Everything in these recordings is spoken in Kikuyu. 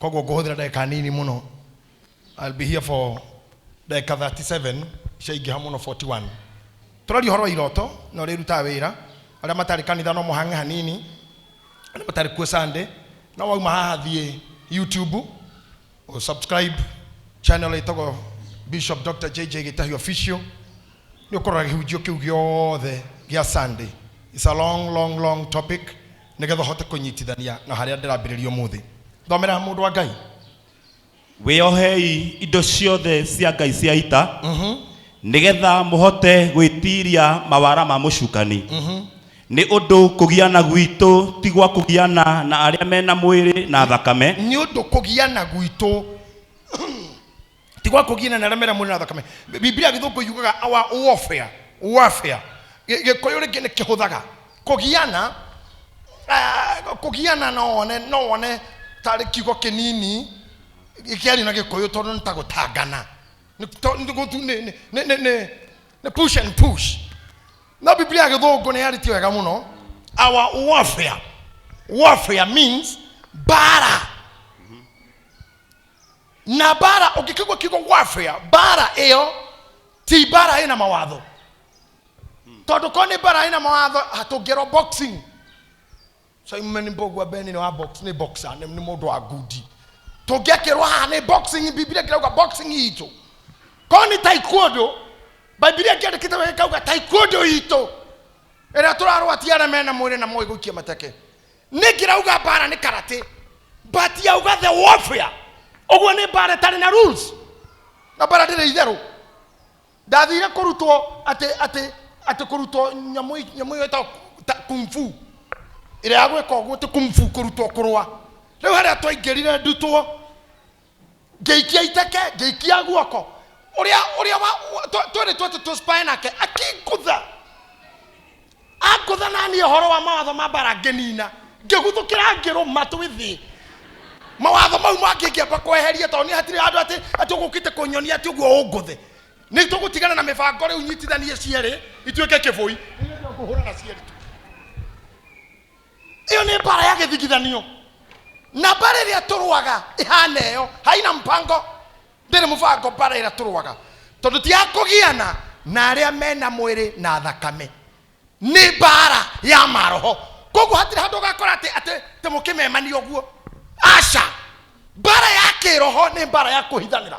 koguo ngũhũthĩra ndagĩka nini mũno I'll be here for ndagĩka 37 ciaingĩha mũno 41 tũraria ũhoro wa iroto na ũrĩa irutaga wĩra arĩa matarĩ kanitha no mũhang'e hanini arĩa matarĩ kuo Sunday no wauma haha thiĩ YouTube ũ subscribe channel ĩtagwo Bishop Dr. JJ Gĩtahi Official nĩ ũkorora gĩhunjio kĩu gĩothe gĩa Sunday it's a long long long topic Nĩgetha ũhote kũnyitithania na harĩa ndĩrambĩrĩria ũmũthĩ, thomera mũndũ wa Ngai. Wĩohei indo ciothe cia Ngai cia ita, nĩgetha mũhote gwĩtiiria mawara ma mũcukani. Nĩ ũndũ kũgiana gwitũ ti gwa kũgiana na arĩa me na mwĩrĩ na thakame. Nĩ ũndũ kũgiana gwitũ ti gwa kũgiana na arĩa mera mwĩrĩ na thakame Bi- bibilia gĩthũngũ yugaga our warfare warfare Gĩ- gĩkũyũ rĩngĩ nĩ kĩhũthaga kũgiana ah, kũgiana no wone no wone tarĩ kiugo kĩnini kĩario na gĩkũyũ tondũ nĩ ta gũtangana Nĩ- to- nĩ gũtu- nĩ- nĩ- nĩ- nĩ- nĩ- nĩ push and push no biblia ya gĩthũngũ nĩ yarĩtie wega mũno our warfare warfare means bara na mbara ũngĩkĩgua kiugo warfare mbara ĩyo ti mbara ĩna mawatho tondũ korwo nĩ mbara ĩna mawatho hatũngĩrwo boxing simon mbogua beni nĩ wa box nĩ boxer nĩ nĩ mũndũ wa ngundi tũngĩakĩrwo haha nĩ boxing bibilia kĩrauga boxing itũ korwo nĩ taekwondo bibilia kĩandĩkĩte wega kauga taekwondo itũ ĩrĩa tũrarwatia arĩa mena mwĩrĩ na moĩ gũikia mateke ningirauga mbara nĩ karate but yauga the warfare ũguo nĩ mbara ĩtarĩ na rules na mbara ndĩrĩ itherũ ndathire kũrutwo atĩ atĩ atĩ kũrutwo nyamũ i- nyamũ ĩyo ĩtagwo ta- kung fu ĩrĩa ya gwĩka ũguo ti kung fu kũrutwo kũrũa rĩu harĩa twaingĩrire ndutwo ngĩikia iteke ngĩikia guoko ũrĩa ũrĩa twĩrĩ twatũ tũspaya nake akingutha angutha naniĩ ũhoro wa mawatho ma mbara ngĩnina ngĩguthũkĩra ngĩrũma twĩ thĩ mawatho mau mangĩ ngĩamba kweheria tondũ nĩ hatirĩ handũ atĩ atĩ ũgũkĩte kũnyonia atĩ ũguo ũngũthe nĩ tũgũtigana na mĩbango rĩu nyitithanie cierĩ ituĩke kĩbũi ngũhũrana cierĩ tu ĩyo nĩ mbara ya gĩthigithanio na mbara ĩrĩa tũrũaga ĩhana ĩyo haina mpango ndĩrĩ mũbango mbara ĩrĩa tũrũaga tondũ ti ya kũgiana na arĩa mena mwĩrĩ na thakame nĩ mbara ya maroho koguo hatirĩ handũ ũgakora atĩ atĩ atĩ mũkĩmemania ũguo aca mbara ya kĩroho nĩ mbara ya kũhithanĩra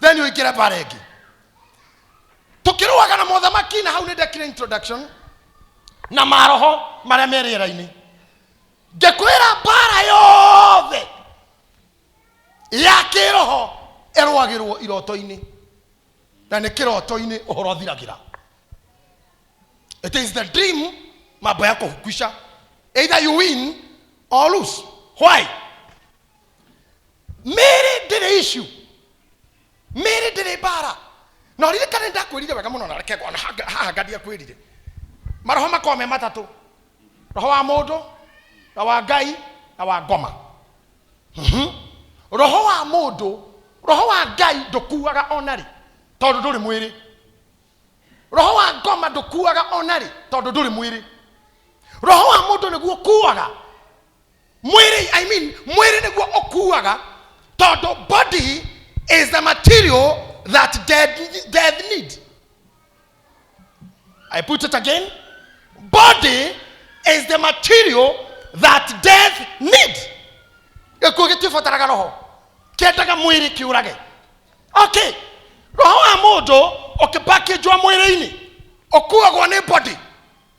then uikire bara ĩngĩ tukĩrũaga na mothamaki na hau nĩ ndekire introduction na maroho marĩa me rĩera-inĩ ngĩkwĩra mbara yothe ya kĩroho ĩrũagĩrwo iroto-inĩ na nĩ kĩroto-inĩ ũhoro thiragĩra it is the dream mambo ya kuhukwisha either you win or lose why mĩĩrĩ ndĩrĩ ishu mĩĩrĩ ndĩrĩ mbara na ũririkane ndakwĩrire wega mũno na reke ngona hanga- haha ngadia kwĩrire maroho makorwo me matatũ roho wa mũndũ na wa ngai na wa ngoma Mhm. roho wa mũndũ roho wa ngai ndũkuaga onarĩ tondũ ndũrĩ mwĩrĩ roho wa ngoma ndũkuaga onarĩ tondũ ndũrĩ mwĩrĩ roho wa mũndũ nĩguo ũkuaga mwĩrĩ i mean mwĩrĩ nĩguo ũkuaga tondũ body is the material that dead, death need i put it again body is the material that death need gĩkuũ gĩtibataraga roho kĩendaga mwĩrĩ kĩũrage okay roho wa mũndũ ũkĩpakĩnjwa mwĩrĩ-inĩ ũkuagwo nĩ body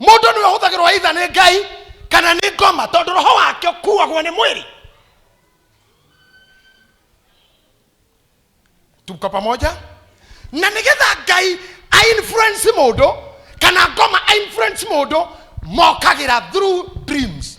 mũndũ nĩwe ũhũthagĩrwo aitha nĩ ngai kana nĩ ngoma tondũ roho wake ũkuagwo nĩ mwĩrĩ tuko pamoja na nĩgetha ngai ainfluence mũndũ kana ngoma ainfluence mũndũ mokagĩra through dreams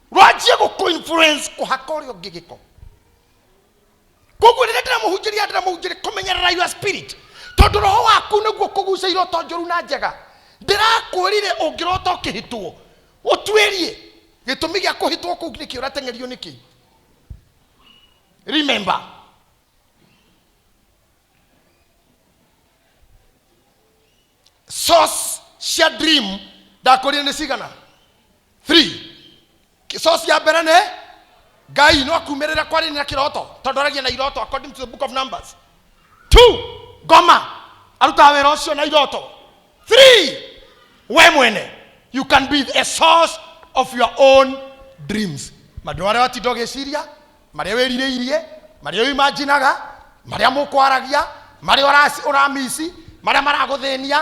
wanjie gå kå influence kå haka å rä a å ngä gä ko koguo rä rä a ndĩramũhunjĩria ndĩramũhunjĩria kũmenyerera your spirit tondũ roho waku nĩguo kũguca iroto njũru na njega ndĩrakwĩrire ũngĩrota ũkĩhĩtwo ũtuĩrie gĩtũmi gĩa kũhĩtwo kũu nĩkĩ ũrateng'erio nĩkĩ remember source cia dream ndakũrire nĩ cigana three source ya mbere nĩ ngai no akumĩrĩra kwarĩ na kĩroto tondũ aragia na iroto according to the book of numbers two ngoma arutaga wĩra ũcio na iroto three we mwene you can be a source of your own dreams mandũ arĩa watinda ũgĩciria marĩa wĩrirĩirie marĩa ũimajinaga marĩa mũkwaragia marĩa ũraci- ũramici marĩa maragũthĩnia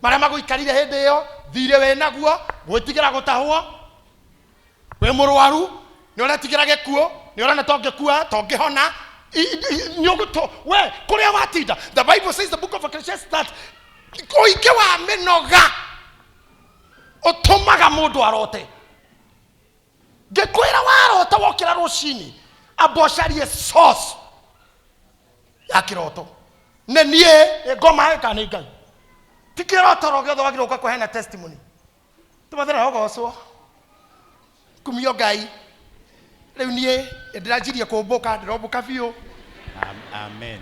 marĩa magũikarire hĩndĩ ĩyo thirĩ wĩ naguo gwĩtigĩra gũtahwo wĩ mũrwaru nĩ ũretigĩra gĩkuũ nĩ ũrona to ngĩkua to ngĩhona I- i- nĩ ũgũtũ we kũrĩa watinda the bible says the book of Ecclesiastes that ũingĩ wa mĩnoga ũtũmaga mũndũ arote ngĩkwĩra warota wokĩra rũcinĩ amba ũcarie source ya kĩroto nĩ niĩ nĩ ngoma ĩka nĩ ngai ti kĩroto ro gĩothe wagĩrĩirwo gũka kũheana testimony tũmathĩra ũgocwo kumio ngai rĩu niĩ nĩ ndĩranjirie kũmbũka ndĩrombũka biũ Am- Amen.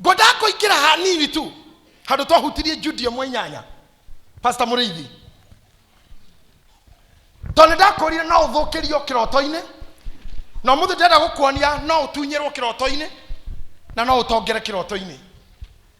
ngwendaga kũingĩra hanini tu handũ twahutirie judi ĩmwe inyanya pasta mũrĩithi tondũ ndakũrire no ũthũkĩrio kĩroto-inĩ na mũthĩ ndĩrenda gũkuonia no ũtunyĩrwo kĩroto-inĩ na no ũtongere kĩroto-inĩ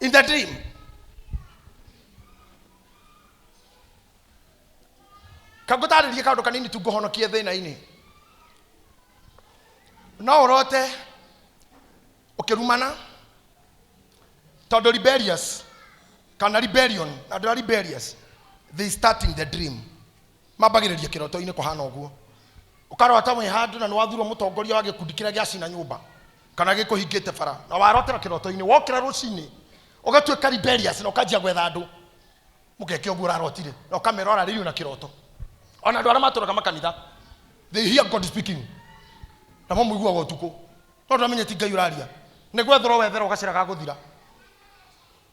in the dream. kangũtarĩrie kaũndũ kanini tu ngũhonokie thĩna-inĩ no ũrote ũkĩrumana tondũ rebellious kana rebellion andũ a rebellious they start in the dream mambagĩrĩria kĩroto-inĩ kũhana ũguo ũkarota wĩ handũ na nĩwathurwo mũtongoria wa gĩkundi kĩrĩa gĩacina nyũmba kana gĩkũhingĩte bara na warotera kĩroto-inĩ wokĩra rũcinĩ ũgatuĩka rebellious na ũkanjia gwetha andũ mũgeke ũguo ũrarotire na ũkamera ũrarĩrio na kĩroto ona andũ arĩa matũraga makanitha they hear god speaking namo mũiguaga ũtukũ no ndũramenya ti ngai ũraria nĩ gwetherwo wetherwo gacĩra ga gũthira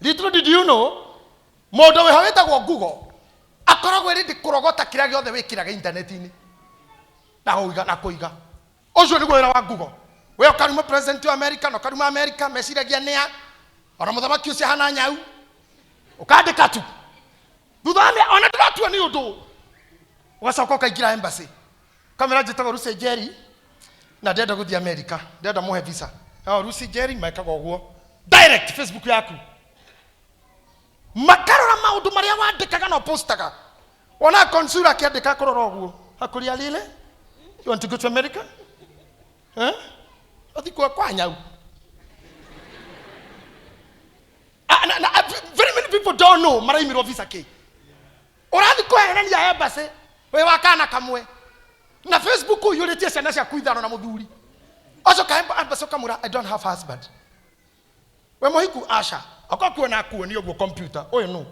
little did you know mũndũ wĩho wĩtagwo google akoragwo ĩrĩndĩ kũrogota kĩrĩa gĩothe wĩkĩraga intaneti-inĩ na kũiga na kũiga ũcio nĩguo wĩra wa google we ũkaruma president wa america na ũkaruma america meciragia nĩa ona mũthamaki ũcio ahana nyau ũkandĩka tu thutha wa mĩa- ona ndĩratua nĩ ũndũ ũgacoka ũkaingĩra embassy kamera njĩtagwo rusi njeri na ndĩrenda gũthiĩ amerika ndĩrenda mũhe visa no rusi njeri mekaga ũguo direct facebook yaku makarora maũndũ marĩa wandĩkaga na ũpostaga ona konsura akĩandĩka kũrora ũguo akũria lile you want to go to america eh? ũthi kwa kwa nyau Ah, na- na- ah, very many people don't know maraimirwo visa kĩ ũrathi kweherania embassy wĩ wa kana kamwe na facebook ũiyũrĩtie ciana ciaku ithano na mũthuri ũcoka emba- embassy ũkamwĩra i don't have husband we mũhiku aca okorwo kuona akuonia ũguo kompiuta ũyũ nũ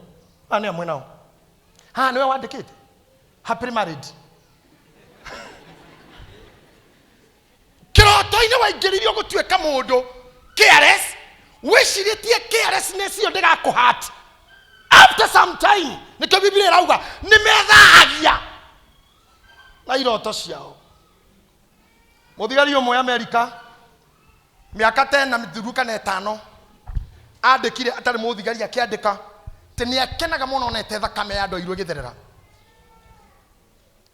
aya nĩ amwe nao haha nĩwe wandĩkĩte happily married kĩroto-inĩ waingĩririo gũtuĩka mũndũ careless wĩcirĩtie carelessness ĩyo ndĩgakũhat after some time nĩkĩo biblia ĩrauga nĩ methahagia na iroto ciao mũthigari ũmwe amerika mĩaka tena mĩthiru kana ĩtano andĩkire atarĩ mũthigari akĩandĩka atĩ nĩ akenaga mũno onete thakame ya andũ airũ ĩgĩtherera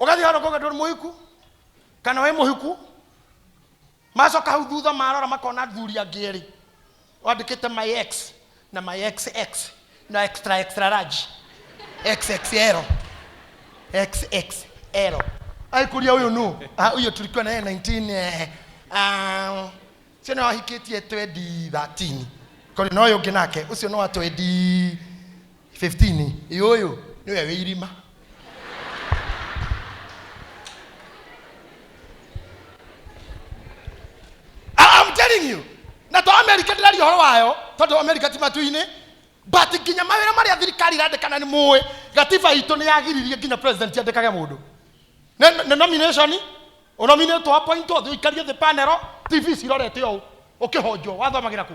ũgathiĩ handũ kũgetwo nĩ mũhiku kana wĩ mũhiku macoka hau thutha marora makona thuri angĩ erĩ wandĩkĩte my x na my xx na extra extra large xxl xxl aikũria ũyũ nũ Ah, ũyũ tulikuwa naye 19 eh, ah, ũcio nĩ wahikĩtie 2013 kori na ũyũ ũngĩ nake ũcio nĩ wa 20 15 ĩ ũyũ nĩwe wĩ irima I- I'm telling you na to america ndĩraria ũhoro wayo tondũ america ti matu-inĩ but nginya mawĩra marĩa thirikari irandĩkana nĩ mũĩ gatiba itũ nĩ yagiririe nginya president andĩkage mũndũ Nĩ- nĩ nomination ũnominĩtwo appointwo ũthiĩ ũikarie thĩ panero tv cirorete ũũ ũkĩhonjwo wathomagĩra kũ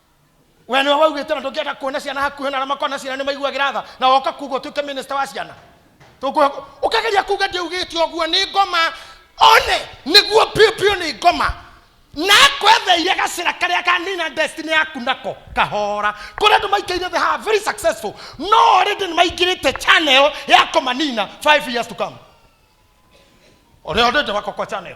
we nĩwe waugĩte na ndũngĩenda kuona ciana hakuhĩ na arĩa makoragwo na ciana nĩ maiguagĩra tha na woka kuga ũtuĩke minista wa ciana Tũkũ- ũkageria kuga ndiaugĩte ũguo nĩ ngoma one nĩguo piũ piũ nĩ ngoma na kwetheire gacĩra karĩa kanina destiny yaku nako kahora kũrĩa andũ maikaire they are very successful no already nĩ maingĩrĩte channel ya kũmanina 5 years to come ũrĩa already wako kwa channel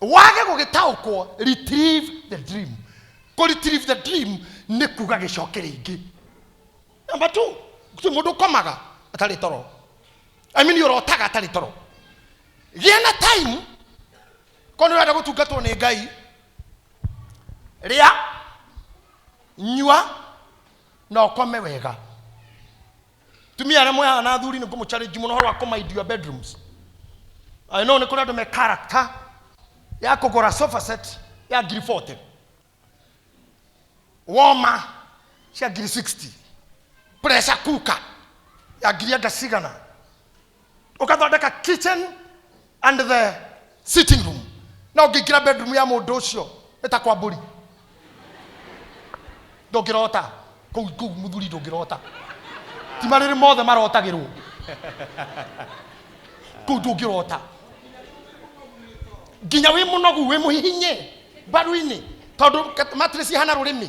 wage gũgĩtaũkwo retrieve the dream kũ retrieve the dream nĩ kuga gĩcoke rĩngĩ namba t ti mũndũ ũkomaga atarĩ toro I mean ũrotaga atarĩ toro gĩa na time korwo nĩ ũrenda gũtungatwo nĩ ngai rĩa nyua na ũkome wega tumia arĩa mwehana na athuri nĩ ngũmũcarĩnji mũno horo wa kũmind your bedrooms I know nĩ kũrĩ andũ me character ya kũgũra sofa set ya ngiri 40 woma cia ngiri 60 pressure cooker ya ngiri enda cigana ũgathondeka kitchen and the sitting room na ũngĩingĩra bedroom ya mũndũ ũcio nĩ ta kwa mbũri ndũngĩrota kũu kũu mũthuri ndũngĩrota ti marĩrĩ mothe marotagĩrwo kũu ndũngĩrota nginya wĩ mũnogu wĩ mũhihinye mbaru-inĩ tondũ kat- mattress ihana rũrĩmĩ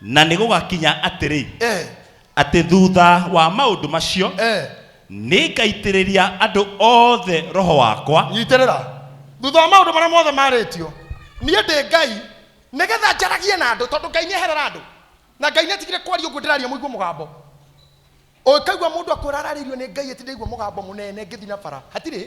na nä gå gakinya atä rä eh, atä thutha wa maå ndå macio eh. nä ngaitä rä ria andå othe roho wakwa nyitĩrĩra thutha wa maũndũ marĩa mothe marĩtio niĩ ndĩ ngai nĩgetha njaragie na andũ tondũ ngai nĩeherera andũ na ngai nĩatigire kwaria ũguo ndĩraria mũigua mũgambo ũkaigua mũndũ akwĩra ararĩirio nĩ ngai ĩti ndaigua mũgambo mũnene ngĩthi na bara hatirĩ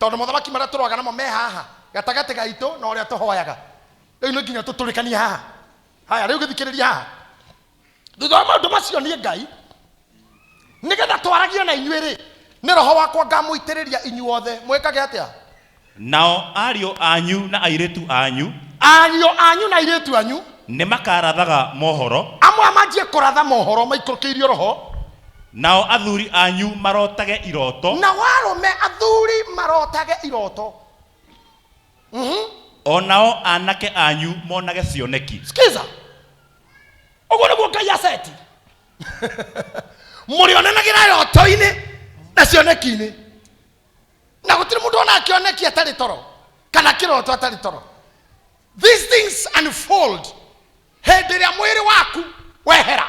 tondũ mothamaki marĩa tũroaga namo me haha gatagatĩ gaitũ na ũrĩa tũhoyaga rĩu nĩ nginya tũtũrĩkanie haha haya rĩu gĩthikĩrĩria haha thutha wa maũndũ macio niĩ ngai nĩgetha twaragie na inyuĩ rĩ nĩ roho wakwa ngamũitĩrĩria inyuothe mwĩkage atĩa nao ariũ anyu na airĩtu anyu ariũ anyu na airĩtu anyu nĩ makarathaga mohoro amwe manjie kũratha mohoro maikũrũkĩirio roho Nao athuri anyu marotage iroto. Nao arũme athuri marotage iroto. Mhm. O nao aanake anyu monage cioneki. Skiza. Ũguo nĩguo Ngai aceti. Mũrĩonanagĩra roto-inĩ na cioneki-inĩ. Na gũtirĩ mũndũ ona akĩoneki atarĩ toro kana kĩroto atarĩ toro. These things unfold hĩndĩ ĩrĩa mwĩrĩ waku wehera.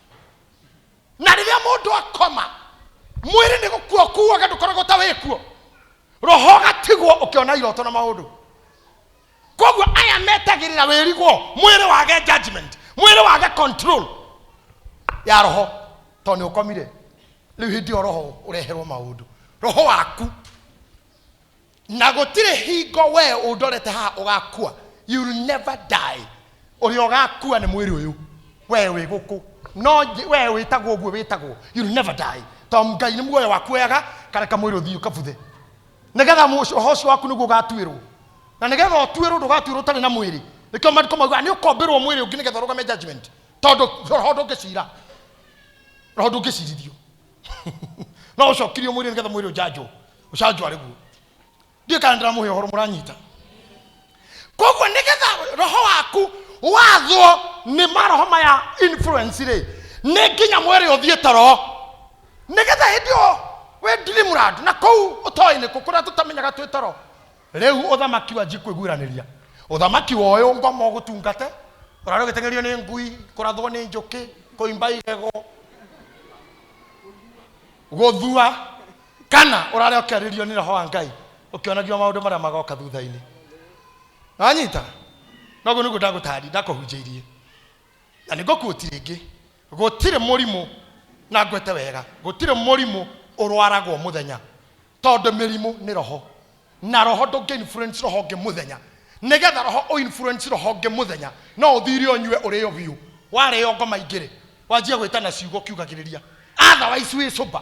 na rĩrĩa mũndũ akoma mwĩrĩ nĩ gũkua ũkuaga ndũkoragwo ta wĩkuo roho ũgatigwo ũkĩona iroto na maũndũ koguo aya metagĩrĩra wĩrigwo mwĩrĩ wage judgment mwĩrĩ wage control ya roho tondũ nĩ ũkomire rĩu hĩndĩ ĩyo roho ũreherwo maũndũ roho waku na gũtirĩ hingo wee ũndorete haha ũgakua you will never die ũrĩa ũgakua nĩ mwĩrĩ ũyũ wee wĩ gũkũ no nje- wee wĩtagwo ũguo wĩtagwo you will never die tondũ ngai nĩ muoyo wakuoyaga kareka mwĩrĩ ũthiĩ ũkabuthe nĩgetha mũcio- ũhoro ũcio waku nĩguo ũgatuĩrwo na nĩgetha ũtuĩrwo ndũgatuĩrwo ũtarĩ na mwĩrĩ nĩkĩo mariko mauga nĩ ũkombĩrwo mwĩrĩ ũngĩ nĩgetha ũrũgame judgment tondũ roho ndũngĩcira roho ndũngĩcirithio no ũcokirio mwĩrĩ nĩgetha mwĩrĩ ũjanjwo ũcanjwo arĩ guo ndiĩ kana ndĩramũhe ũhoro mũranyita koguo nĩgetha roho waku wathwo nĩ maroho maya influence rĩ nĩ nginya mwĩrĩ ũthiĩ toro nĩgetha hĩndĩ ĩyo wĩ ndirimurandu na kũu ũtoĩ nĩkũ kũrĩa tũtamenyaga twĩ toro Rĩu ũthamaki wanji kwĩguranĩria ũthamaki wa ũyũ ngoma ũgũtungate ũrarĩ ũgĩteng'erio nĩ ngui kũrathwo nĩ njũkĩ kũimba igego gũthua kana ũrarĩ ũkĩarĩrio nĩ roho wa ngai ũkĩonagio maũndũ marĩa magoka thutha-inĩ nanyita noguo nĩguo ndagũtari ndakũhunjĩirie na nĩ ngũkuoti rĩngĩ gũtirĩ mũrimũ na ngwĩte wega gũtirĩ mũrimũ ũrwaragwo mũthenya tondũ mĩrimũ nĩ roho na roho ndũngĩ influence roho ũngĩ mũthenya nĩgetha roho ũ influence roho ũngĩ mũthenya no ũthire ũnyue ũrĩo biũ warĩo ngoma ingĩ rĩ wanjia gwĩtana ciugo ũkiugagĩrĩria otherwise wĩ sober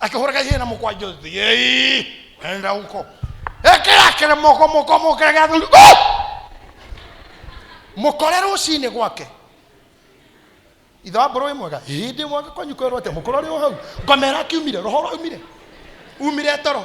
akĩhũra gacina na mũkwanjũ thiĩi enda huko ekĩra kĩremoko mũko mũkĩra gĩa thuri Oh! mũkore rũcinĩ gwake ithe wa mbũrũ wĩ mwega hĩndĩ mwaka kwanyu kwerwo atĩa mũkũrũ arĩ o hau ngomera akiumire roho rwaumire umire toro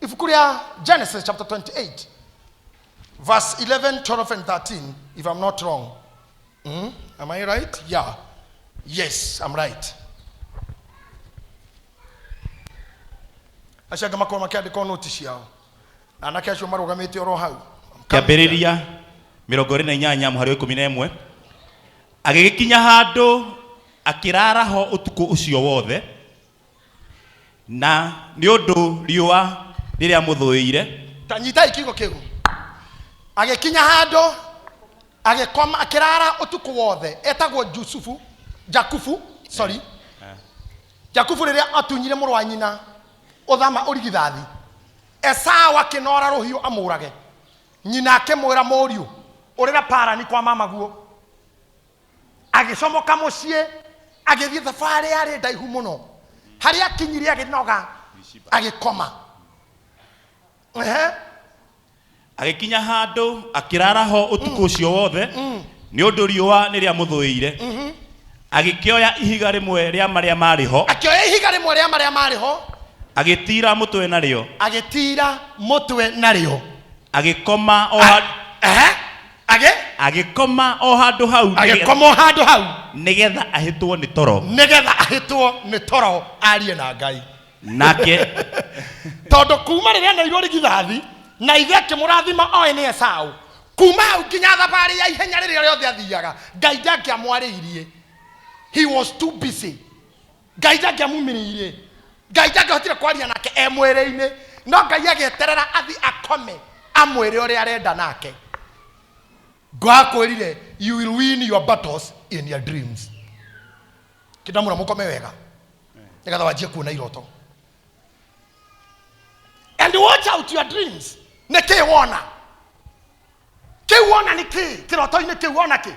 ibuku rĩa genesis chapter 28 verse 11 12 and 13 if i'm not wrong mm? am i right yeah yes i'm right acio angĩ makorwo makĩandĩka noti ciao na anake acio marũgamĩte oro hau kĩambĩrĩria mĩrongo ĩrĩ na inyanya mũhari wa ikũmi na ĩmwe agĩgĩkinya handũ akĩrara ho ũtukũ ũcio wothe na nĩ ũndũ riũa rĩrĩa mũthũĩire ta nyitai kiugo kĩu agĩkinya handũ agĩkoma akĩrara ũtukũ wothe etagwo jusufu jakubu sorry jakubu rĩrĩa atunyire mũrũ wa nyina ũthama ũrigithathi esau akĩnora rũhiũ amũrage nyina akĩmwĩra mũriũ ũrĩra parani kwa mamaguo agĩcomoka mũciĩ agĩthiĩ thabarĩ yarĩ ndaihu mũno harĩa akinyire agĩnoga agĩkoma Ehe. agĩkinya handũ akĩrara ho ũtukũ ũcio wothe nĩ ũndũ riũa nĩ rĩamũthũĩire agĩkĩoya ihiga rĩmwe rĩa marĩa marĩ ho akĩoya ihiga rĩmwe rĩa marĩa marĩ ho agĩtiira mũtwe narĩo agĩtiira mũtwe narĩo agĩkoma o ha- Ehe. agĩ agĩkoma o handũ hau nĩgetha- agĩkoma o handũ hau nĩgetha ahĩtwo nĩ toro nĩgetha ahĩtwo nĩ toro arie na ngai nake tondũ kuma rĩrĩa nairwo rigithathi na ithe akĩmũrathima oĩ nĩ esaũ kuma hau nginya thabarĩ ya ihenya rĩrĩa rĩothe athiaga ngai ndangĩamwarĩirie he was too busy ngai ndangĩamumiriire ngai ndangĩhotire kwaria nake e mwĩrĩ-inĩ no ngai agĩeterera athi akome amwĩre ũrĩa arenda nake ngo akwĩrire you will win your battles in your dreams kĩndamũra mũkome wega nĩgetha wanjie kuona iroto and watch out your dreams nä kä wona kä wona nä kä kä roto-inä kä wona kä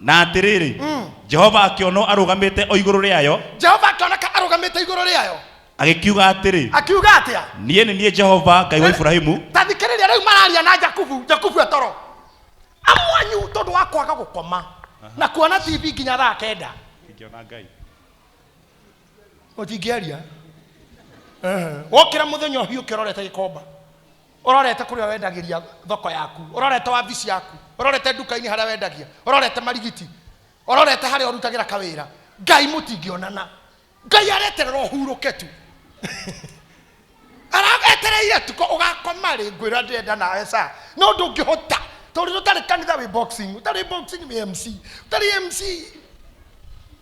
na atĩrĩrĩ jehova akĩonwo arũgamĩte o igũrũ rĩayo jehova akĩoneka arũgamĩte igũrũ rĩayo agĩkiuga atĩrĩ akiuga atĩa niĩ nĩ niĩ jehova ngai wa iburahimu ta thikĩrĩria rĩu mararia na jakubu jakubu etoro amwanyu tondũ wa kwaga gũkoma na kuona tv nginya thaa kenda ũtingĩaria wokĩra mũthenya ũhiũ ũkĩrorete gĩkomba Ũrorete kũrĩa wendagĩria thoko yaku, ũrorete wabici yaku, ũrorete nduka-inĩ harĩa wendagia, ũrorete marigiti, ũrorete harĩa ũrutagĩra kawĩra, Ngai mũtingĩonana. Ngai areterera ũhurũke tu. Aragetereire tu ko ũgakoma rĩ ngwĩra ndĩrenda nawe saa. No ndũngĩhota. Tondũ ũtarĩ kanitha wĩ boxing, ũtarĩ boxing wĩ MC, ũtarĩ MC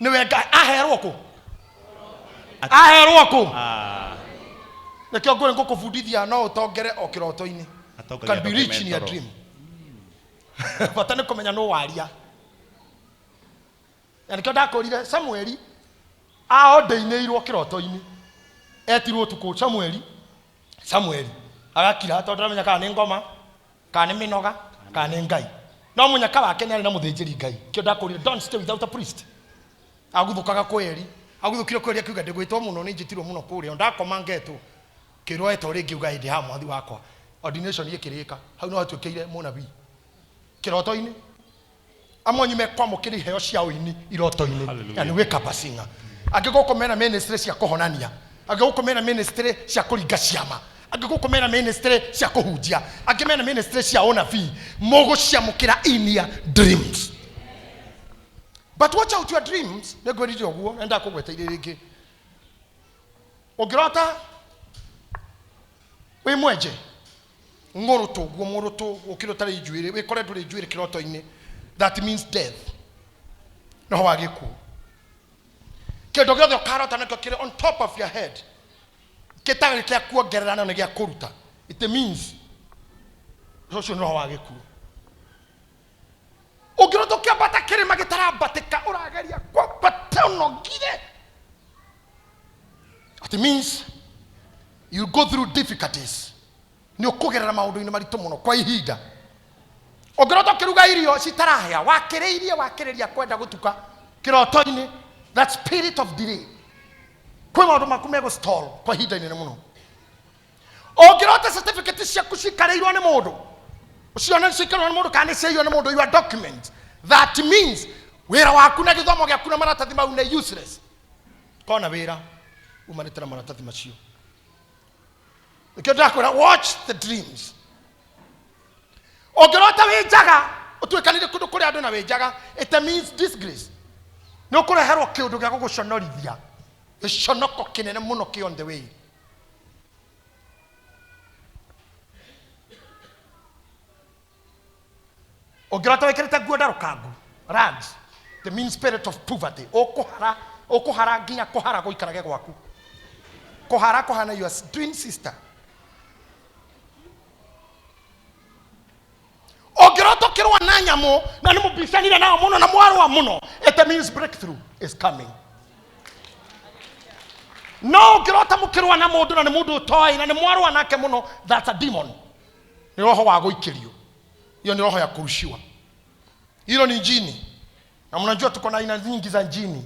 nĩwe ngai aherwo kũ aherwo kũ Ah, nĩkĩo ngũrĩ ngũkũbundithia no ũtongere o kĩroto-inĩ atongoria can be andũ rich in your kĩmetoro. dream bata nĩ kũmenya nũ waria na nĩkĩo ndakũrire samueli aondeinĩirwo kĩroto-inĩ etirwo ũtukũ samueli samueli agakira tondũ ndaramenya kana nĩ ngoma kana nĩ mĩnoga kana nĩ ngai no mũnyaka wake nĩ arĩ na mũthĩnjĩri ngai kĩo ndakũrire don't stay without a priest aguthũkaga kwĩ eri aguthũkire kwĩ eri akiuga ndĩgwĩtwo mũno nĩ njĩtirwo mũno kũrĩa o ndakoma ngetwo kĩrwo etwo rĩngĩ uga hĩndĩ ha mwathi wakwa ordination ĩkĩrĩka hau no hatuĩkĩire mũnabii kĩroto-inĩ amwe anyu mekwamũkĩra iheo cia ũini iroto-inĩ Hallelujah. na nĩ gwĩka bacinga angĩ gũkũ mena ministry cia kũhonania angĩ gũkũ mena ministry cia kũringa ciama angĩ gũkũ mena ministry cia kũhunjia angĩ mena ministry cia ũnabii mũgũciamũkĩra in your dreams but watch out your dreams nĩ ngwĩrire ũguo na ndakũgweteire rĩngĩ ũngĩrota wĩ mwenje ngũrũtũ guo mũrũtũ ũkĩrĩ ũtarĩ njuĩrĩ wĩkore ndũrĩ njuĩrĩ kĩroto-inĩ that means death roho wa gĩkuũ kĩndũ gĩothe ũkarota nakĩo kĩrĩ on top of your head gĩtarĩ kĩa kuongerera no nĩ gĩa kũruta it means ũcio nĩ roho wa gĩkuũ ũngĩrwo tũkĩambata kĩrĩma gĩtarambatĩka ũrageria kwambata ũnogire it means you go through difficulties nĩ ũkũgerera maũndũ-inĩ maritũ mũno kwa ihinda ũngĩrwo tũkĩruga irio citarahĩa wakĩrĩirie wakĩrĩria kwenda gũtuka kĩroto-inĩ that spirit of delay kwĩ maũndũ maku megũstall kwa ihinda inene mũno ũngĩrota certificate ciaku cikarĩirwo nĩ mũndũ cione cikarĩirwo nĩ mũndũ kana nĩciaiywo nĩ mũndũ your document that means wĩra waku na gĩthomo gĩaku na maratathi mau nĩ useless kona wĩra umanĩte na maratathi macio nĩkĩo ndĩrakwĩra watch the dreams ũngĩrota wĩ njaga ũtuĩkanire kũndũ kũrĩa andũ na wĩ njaga it means disgrace nä å kå reherwo kä å ndå gä a gå gå conorithia gä conoko kä nene må no kä on the way ũngĩrota wĩkĩrĩte nguo ndarũkangu rags the mean spirit of poverty ũkũhara ũkũhara nginya kũhara gũikarage gwaku kũhara kũhana your twin sister ũngĩrota ũkĩrũa na nyamũ na nĩ mũbicanire nao mũno na mwarũa mũno it means breakthrough is coming no ũngĩrota mũkĩrũa na mũndũ na nĩ mũndũ ũtoĩ na nĩ mwarũa nake mũno that's a demon nĩ roho wa gũikĩrio hiyo ni roho ya kurushiwa hilo ni jini na mnajua tuko na aina nyingi za jini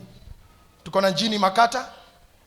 tuko na jini makata